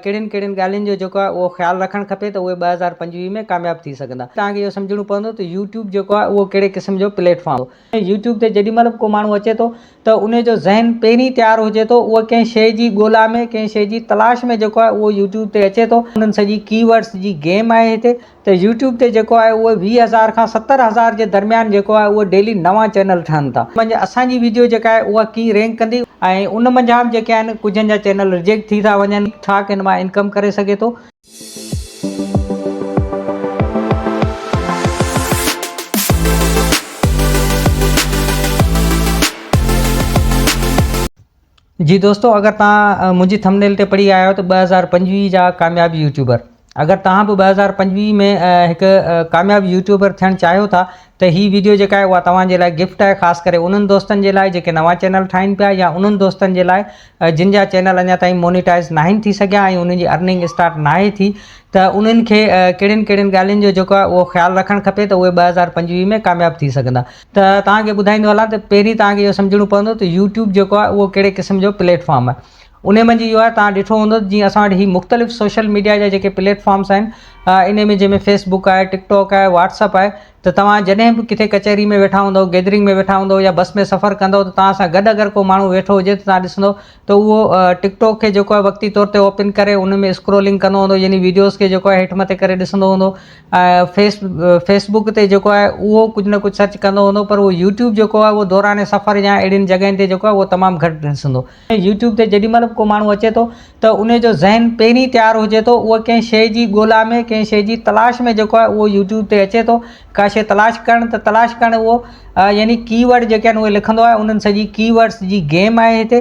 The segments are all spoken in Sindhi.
ڪهڙين ڪهڙين ڳالهين جو جيڪو آهي اهو خيال رکڻ کپي ته اهي ٻه هزار پنجويهه ۾ ڪامياب ٿي سگهندا. توهان کي اهو سمجهڻو پوندو ته يوٽيوب جيڪو آهي اهو ڪهڙي قسم جو پليٽ فارم آهي. يوٽيوب تي جيڏي مهل به ڪو ماڻهو اچي ٿو ته انهي جو ذهن پهرين تيار هجي ٿو اهو ڪنهن شيء جي ڳولا ۾ ڪنهن شيء جي تلاش ۾ جيڪو آهي اهو يوٽيوب تي اچي ٿو. انهن سڄي ڪي ورڊس جي گيم آهي هتي ته يوٽيوب تي جيڪو آهي اهو ويهه هزار کان ستر هزار جي درميان جيڪو آهي اهو ڊيلي نوان چينل ٺهن ٿا ان منجهه اسان جي ويڊيو جيڪا آهي اها ڪيئن رينڪ ڪندي ۽ ان منجهه به جيڪي آهن ڪجهن جا چينل رجيڪٽ ٿي ٿا وڃن ڇا ڪن مان انڪم ڪري سگهي ٿو. جي دوستو اگر توهان منهنجي ٿمنيل تي پڙهي آيا آهيو ته ٻه هزار پنجويهه جا ڪامياب يوٽيوبر اگر توهان به ٻه هزار پنجويهه ۾ هڪ ڪامياب يوٽيوبر ٿيڻ چاهيو ٿا ته هي ويڊيو جيڪا آهي اها توهان جي لاء گفٽ آهي خاص ڪري انهن دوستن جي لاء جيڪي نوان چينل ٺاهين پيا يا انهن دوستن جي لاء جن جا چينل اڃا تائين مونيٽائز ناهن ٿي سگهيا ۽ انهن جي ارننگ اسٽارٽ ناهي ٿي ته انهن کي ڪهڙين ڪهڙين ڳالهين جو جيڪو آهي اهو خيال رکڻ کپي ته اهي ٻه هزار پنجويهه ۾ ڪامياب ٿي سگهندا ته توهان کي ٻڌائيندو هلان ته پهرين توهان کي اهو سمجهڻو پوندو ته يوٽيوب جيڪو آهي اهو ڪهڙي قسم جو پليٽ فارم آهي ان منجهه اهو آهي توهان ڏٺو هوندو جيئن اسان وٽ هي مختلف سوشل ميڊيا جا جيڪي پليٽ فارمس آهن ان ۾ جنهن ۾ فيس بڪ آهي ٽڪ ٽاڪ آهي واٽس اپ آهي ته توهان جڏهن به ڪٿي ڪچهري ۾ ويٺا هوندو گيدرنگ ۾ ويٺا هوندو يا بس ۾ سفر ڪندو ته توهان سان گڏ اگر ڪو ماڻهو ويٺو هجي ته توهان ڏسندو ته اهو ٽڪ ٽاڪ کي جيڪو آهي وقتي طور تي اوپن ڪري ان ۾ اسڪرولنگ ڪندو هوندو يعني ويڊيوز کي جيڪو آهي هيٺ مٿي ڪري ڏسندو هوندو فيس فيس بڪ تي جيڪو آهي اهو ڪجهه نه ڪجهه سرچ ڪندو هوندو پر اهو يوٽيوب جيڪو آهي اهو دوران سفر يا اهڙين جڳهين تي جيڪو آهي اهو تمام گهٽ ڏسندو يوٽيوب تي جيڏي مهل به ڪو ماڻهو اچي ٿو ته ان جو ذهن پهرين تيار هجي ٿو اهو ڪنهن شيء جي ڳولا ۾ ڪنهن شيء جي تلاش ۾ جيڪو آهي اهو يوٽيوب تي اچي ٿو ڪا شيء تلاش ڪرڻ ته تلاش ڪرڻ اهو يعني ڪي ورڊ جيڪي آهن اهي لکندو آهي انهن سڄي ڪي ورڊس جي گيم آهي هتي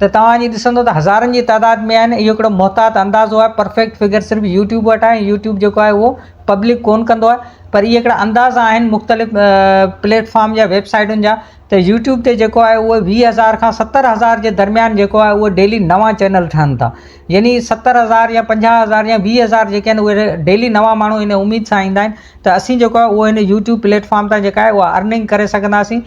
ته توهان اڄ ڏسندو ته هزارن جي تعداد ۾ آهن اهو ڪهڙو محتاط اندازو آهي پرفيڪٽ فگر صرف يوٽيوب وٽ آهي ۽ يوٽيوب جيڪو آهي اهو پبلڪ ڪون ڪندو آهي پر اهي ڪهڙا اندازا آهن مختلف پليٽ فارم جا ويب سائيٽن جا ته يوٽيوب تي جيڪو آهي اهو ويهه هزار کان ستر هزار جي درميان جيڪو آهي اهو ڊيلي نوان چينل ٺهن ٿا يعني ستر هزار يا پنجاهه هزار يا ويهه هزار جيڪي آهن اهي ڊيلي نوان ماڻهو ان اميد سان ايندا آهن ته اسين جيڪو آهي اهو هن يوٽيوب پليٽ فارم تان جيڪا آهي اها ارننگ ڪري سگهنداسين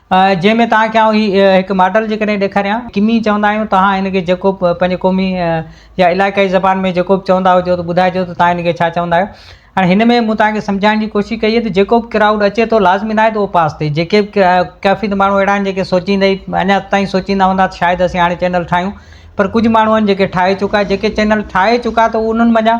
جنهن ۾ توهان کي آئون هي هڪ ماڊل جي ڪري ڏيکاريان. ڪمي چوندا آهيون، توهان هن کي جيڪو به پنهنجي قومي يا علائقائي زبان ۾ جيڪو به چوندا هجو ته ٻڌائجو ته توهان هن کي ڇا چوندا آهيو. هاڻي هن ۾ مون توهان کي سمجهائڻ جي ڪوشش ڪئي ته جيڪو به ڪرائوڊ اچي ٿو لازمي ناهي ته اهو پاس ٿئي جيڪي به ڪافي ته ماڻهو اهڙا آهن جيڪي سوچيندي اڃا تائين سوچيندا هوندا ته شايد اسين هاڻي چينل ٺاهيون پر ڪجهه ماڻهو آهن جيڪي ٺاهي چڪا جيڪي چينل ٺاهي چڪا ته انهن منجهان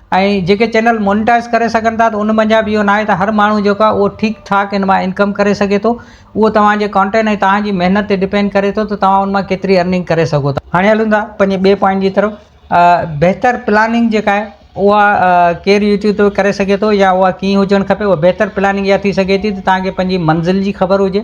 ۽ جيڪي چينل مونيٽائز ڪري سگهن ٿا ته ان منجهان به اهو ناهي ته هر ماڻهو جيڪو آهي اهو ٺيڪ ٺاڪ ان مان انڪم ڪري سگهي ٿو اهو توهان جي ڪانٽينٽ ۽ توهان جي محنت تي ڊپينڊ ڪري ٿو ته توهان ان مان ڪيتري ارننگ ڪري سگهو ٿا. هاڻي هلون ٿا پنهنجي ٻئي پوائنٽ جي طرف بهتر پلاننگ جيڪا آهي اها ڪير يوٽيوب تي ڪري سگهي ٿو يا اها ڪيئن هجڻ کپي اها بهتر پلاننگ اها ٿي سگهي ٿي ته توهان کي پنهنجي منزل جي خبر هجي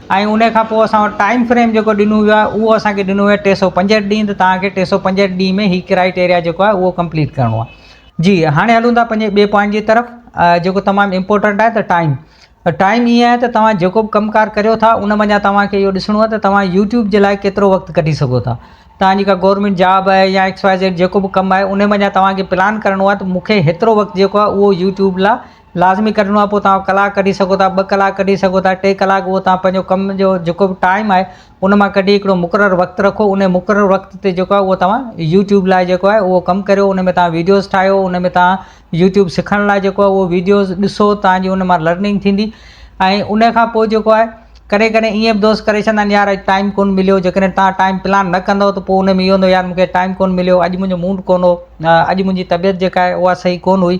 ۽ ان کان پوء اسان وٽ ٽائيم فريم جيڪو ڏنو ويو آهي اهو اسان کي ڏنو ويو آهي ٽي سؤ پنجهٺ ڏينهن ته توهان کي ٽي سؤ پنجهٺ ڏينهن ۾ هي ڪرائيٽيريا جيڪو آهي اهو ڪمپليٽ ڪرڻو آهي جي هاڻي هلون ٿا پنهنجي ٻئي پوائنٽ جي طرف جيڪو تمام امپورٽنٽ آهي ته ٽائيم ته ٽائيم ائين آهي ته توهان جيڪو به ڪم ڪار ڪريو ٿا ان منجهان توهان کي اهو ڏسڻو آهي ته توهان يوٽيوب جي لاء ڪيترو وقت ڪڍي سگهو ٿا توهان جي ڪا گورمينٽ جاب آهي يا ايڪس واء زيڊ جيڪو به ڪم آهي ان منجهان توهان کي پلان ڪرڻو آهي ته مون کي هيترو وقت جيڪو آهي اهو يوٽيوب لاء لازمي ڪڍڻو آهي پوء توهان ڪلاڪ ڪڍي سگهو ٿا ٻه ڪلاڪ ڪڍي سگهو ٿا ٽي ڪلاڪ اهو توهان پنهنجو ڪم جو جيڪو به ٽائيم آهي ان مان ڪڍي هڪڙو مقرر وقت رکو ان مقرر وقت تي جيڪو آهي اهو توهان يوٽيوب لاء جيڪو آهي اهو ڪم ڪريو ان ۾ توهان ويڊيوز ٺاهيو ان ۾ توهان يوٽيوب سکڻ لاء جيڪو آهي اهو ويڊيوز ڏسو توهان جي ان مان لرننگ ٿيندي ۽ ان کان پوء جيڪو آهي ڪڏهن ڪڏهن ائين به دوست ڪري ڇڏيندا آهن يار اڄ ٽائيم ڪونه مليو جيڪڏهن توهان ٽائيم پلان نه ڪندو ته پوء ان ۾ اهو هوندو يار مون کي ٽائيم ڪونه مليو اڄ منهنجو موڊ ڪونه هو اڄ منهنجي طبيعت جيڪا آهي اها صحيح ڪونه هئي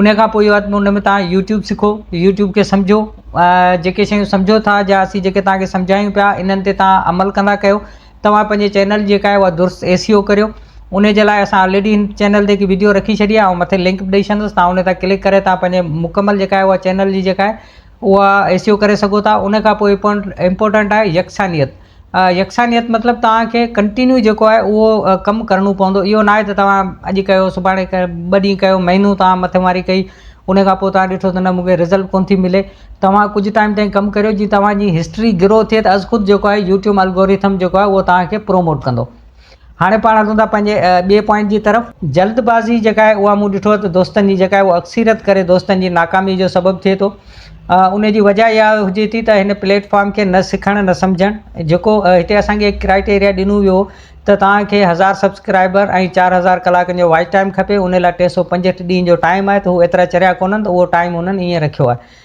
انهيء کان پوء ان ۾ توهان يو ٽيوب سکو، يو ٽيوب کي سمجهو، جيڪي شيون سمجهو ٿا جا اسين جيڪي توهان کي سمجهايون پيا انهن تي توهان عمل ڪندا ڪيو، توهان پنهنجي چينل جيڪا آهي اها درست اي سي او ڪريو، انهيء جي لاء اسان آلريڊي هن چينل تي هڪ وڊيو رکي ڇڏي آهي، آئون مٿي لنڪ به ڏئي ڇڏندس توهان انهيء تان ڪلڪ ڪري توهان پنهنجي مڪمل جيڪا آهي اها چينل جي جيڪا آهي اها اي سي او ڪري سگهو ٿا، انهيء کان پوء امپورٽنٽ آهي يڪسانيت. يڪسانيت مطلب توهان کي ڪنٽينيو جيڪو آهي اهو ڪم ڪرڻو پوندو اهو ناهي ته توهان اڄ ڪيو سڀاڻي ڪيو ٻه ڏينهن ڪيو مهينو توهان مٿي ماري ڪئي ان کان پوء توهان ڏٺو ته نه مونکي رزلٽ ڪونه ٿي ملي توهان ڪجهه ٽائيم تائين ڪم ڪريو جي توهان جي هسٽري گرو ٿئي ته از خود جيڪو آهي يوٽيوب الگوريٿم جيڪو آهي اهو توهان کي پروموٽ ڪندو هاڻي پاڻ هلون ٿا پنهنجي ٻئي پوائنٽ جي طرف. جلد بازي جيڪا آهي اها مون ڏٺو آهي ته دوستن جي جيڪا آهي اهو اڪثريت ڪري دوستن جي ناڪامي جو سبب ٿئي ٿو. ان جي وجهه اها هجي ٿي ته هن پليٽ فارم کي نه سکڻ نه سمجهڻ جيڪو هتي اسان کي هڪ ڪرائيٽيريا ڏنو ويو هو ته توهان کي هزار سبسڪرائبر ۽ چار هزار ڪلاڪن جو واچ ٽائيم کپي ان لاء ٽي سؤ پنجهٺ ڏينهن جو ٽائيم آهي ته هو ايترا چريا ڪونهن ته اهو ٽائيم هنن ائين رکيو آهي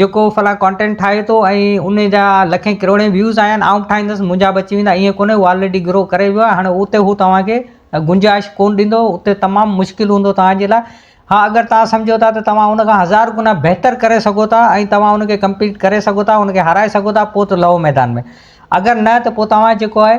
جيڪو فلاڻ ڪانٽينٽ ٺاهي ٿو ۽ ان جا لکين ڪروڙين ويوز آيا آهن آئون به ٺاهيندس منهنجا به اچي ويندا ائين ڪونهي هو آلريڊي گرو ڪري ويو آهي اتي هو توهان کي گنجائش ڪونهه ڏيندو اتي تمام مشڪل هوندو توهان جي لاء ها اگر توهان سمجهو ٿا ته توهان ان کان هزار گنا بهتر ڪري سگهو ٿا ۽ توهان ان کي ڪمپيٽ ڪري سگهو ٿا ان کي هارائي سگهو ٿا پوء ته لهو ميدان ۾ اگر نه ته پوء توهان جيڪو آهي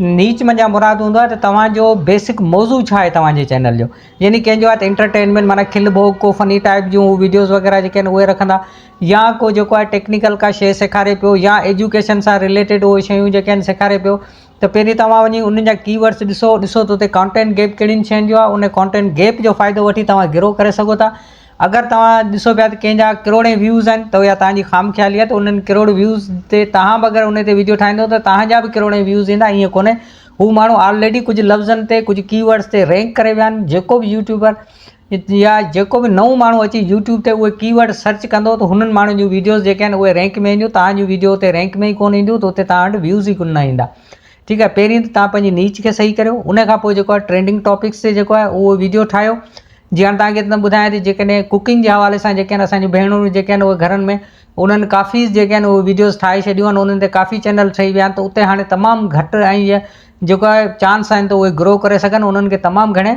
نيچ منجهان مراد هوندو آهي ته توهان جو بيسڪ موضوع ڇا آهي توهان جي چينل جو يعني ڪنهن جو آهي ته انٽرٽينمينٽ معنيٰ کل ڀوڳ ڪو فني ٽائپ جون ويڊيوز وغيره جيڪي آهن اهي رکندا يا ڪو جيڪو آهي ٽيڪنيڪل ڪا شيء سيکاري پيو يا ايجوڪيشن سان رليٽيڊ اهي شيون جيڪي آهن سيکاري پيو ته پهرين توهان وڃي انهن جا ڪي ورڊس ڏسو ڏسو ته اتي ڪانٽينٽ گيپ ڪهڙين شين جو آهي ان ڪانٽينٽ گيپ جو فائدو وٺي توهان گرو ڪري سگهو ٿا اگر توهان ڏسو پيا ته ڪنهن جا ڪروڙين ويوز آهن ته اها توهان جي خام خيالي آهي ته انهن ڪروڙ ويوز تي توهان به اگر ان تي ويڊيو ٺاهيندو ته توهان جا به ڪروڙين ويوز ايندا ائين ڪونهي هو ماڻهو آلريڊي ڪجهه لفظن تي ڪجهه ڪي ورڊس تي رينڪ ڪري ويا آهن جيڪو به يوٽيوبر يا جيڪو به نئون ماڻهو اچي يوٽيوب تي اهي ڪي ورڊ سرچ ڪندو ته هنن ماڻهن جون ويڊيوز جيڪي آهن اهي رينڪ ۾ اينديون توهان جون ويڊيو اتي رينڪ ۾ ئي ڪونهي اينديون ته اتي توهان وٽ ويوز ئي ڪونه ايندا ٺيڪ آهي پهرين ته تان پنهنجي نيچ کي صحيح ڪريو ان کان پوء جيڪو آهي ٽرينڊنگ ٽاپڪس تي جيڪو آهي اهو ويڊيو ٺاهيو جي هاڻي تان کي ته ٻڌايان ٿي جيڪڏهن ڪڪنگ جي حوالي سان جيڪي آهن اسان جون ڀينرون جيڪي آهن اهي گهرن ۾ انهن ڪافي جيڪي آهن اهي ويڊيوز ٺاهي ڇڏيون آهن انهن تي ڪافي چينل ٺهي ويا آهن ته اتي هاڻي تمام گهٽ ۽ جيڪو آهي چانس آهن ته اهي گرو ڪري سگهن انهن کي تمام گهڻي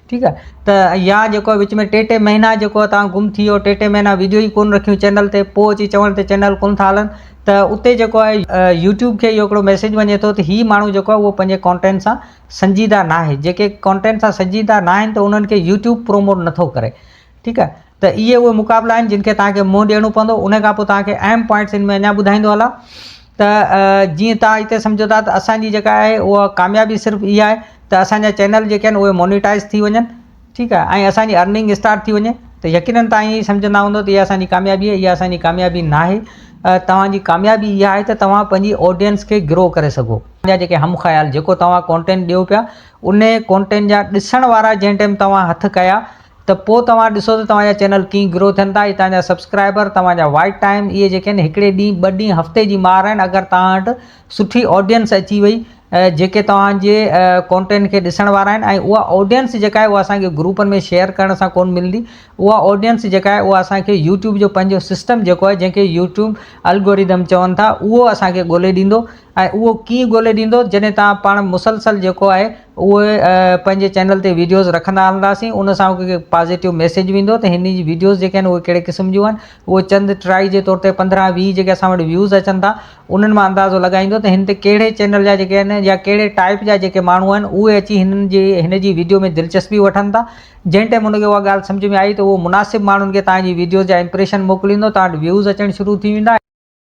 ٺيڪ آ ته يا جيڪو وچ ۾ ٽي ٽي مهينا جيڪو توهان گم ٿي ويو ٽي ٽي مهينا ويڊيو ئي ڪون رکيون چينل تي پوء اچي چوڻ ته چينل ڪون ٿا هلن ته اتي جيڪو آهي يوٽيوب کي اهو هڪڙو ميسيج وڃي ٿو ته هي ماڻهو جيڪو آهي اهو پنهنجي ڪانٽينٽ سان سنجيده ناهي جيڪي ڪانٽينٽ سان سنجيده ناهن ته انهن کي يوٽيوب پروموٽ نٿو ڪري ٺيڪ آهي ته اهي اهي مقابلا آهن جن کي توهان کي منهن ڏيڻو پوندو ان کان پوء توهان کي اهم پوائنٽس ان ۾ اڃا ٻڌائيندو هلان ته جيئن توهان هتي سمجهو ٿا ته اسان جي جيڪا آهي اها ڪاميابي صرف اها آهي ته اسان جا چينل جيڪي آهن اهي مونيٽائز ٿي وڃن ٺيڪ آهي ۽ اسان جي ارننگ اسٽارٽ ٿي وڃي ته يقينن توهان ائين سمجهندا هوندو ته اها اسان جي ڪاميابي اها اسان جي ڪاميابي نه آهي توهان جي ڪاميابي اها آهي ته توهان پنهنجي آڊينس کي گرو ڪري سگهو جا جيڪي هم خيال جيڪو توهان ڪونٽينٽ ڏيو پيا ان ڪونٽينٽ جا ڏسڻ وارا جنهن ٽائيم توهان هٿ ڪيا ته پوء توهان ڏسو ته توهان جا چينل ڪيئن گرو ٿين ٿا ۽ توهان جا سبسڪرائبر، توهان جا واچ ٽائيم اهي جيڪي آهن هڪڙي ڏينهن، ٻه ڏينهن، هفتي جي مار آهن اگر توهان وٽ سٺي آڊينس اچي وئي جيڪي توهان جي ڪونٽينٽ کي ڏسڻ وارا آهن ۽ اها آڊينس جيڪا آهي اها اسان کي گروپن ۾ شيئر ڪرڻ سان ڪون ملندي اها آڊينس جيڪا آهي اها اسان کي يوٽيوب جو پنهنجو سسٽم جيڪو آهي جنهن کي يوٽيوب الگوريدم چون ٿا اهو اسان کي ڳولي ڏيندو ۽ اهو ڪيئن ڳولي ڏيندو جڏهن توهان پاڻ مسلسل جيڪو آهي اهو پنهنجي چينل تي ويڊيوز رکندا هلنداسين ان سان هڪ پازيٽو ميسيج ويندو ته هن جي ويڊيوز جيڪي آهن اهي ڪهڙي قسم جون آهن اهو چند ٽرائي جي طور تي پندرهن ويهه جيڪي اسان وٽ ويوز اچن ٿا انهن مان اندازو لڳائيندو ته هن تي ڪهڙي چينل جا جيڪي آهن يا ڪهڙي ٽائيپ جا جيڪي ماڻهو آهن اهي اچي هنن جي هن جي ويڊيو ۾ دلچسپي وٺن ٿا جنهن ٽائيم ان کي اها ڳالهه سمجهه ۾ آئي ته اهو مناسب ماڻهن کي توهان جي ويڊيوز جا امپريشن موڪليندو توهان وٽ ويوز اچڻ شروع ٿي ويندا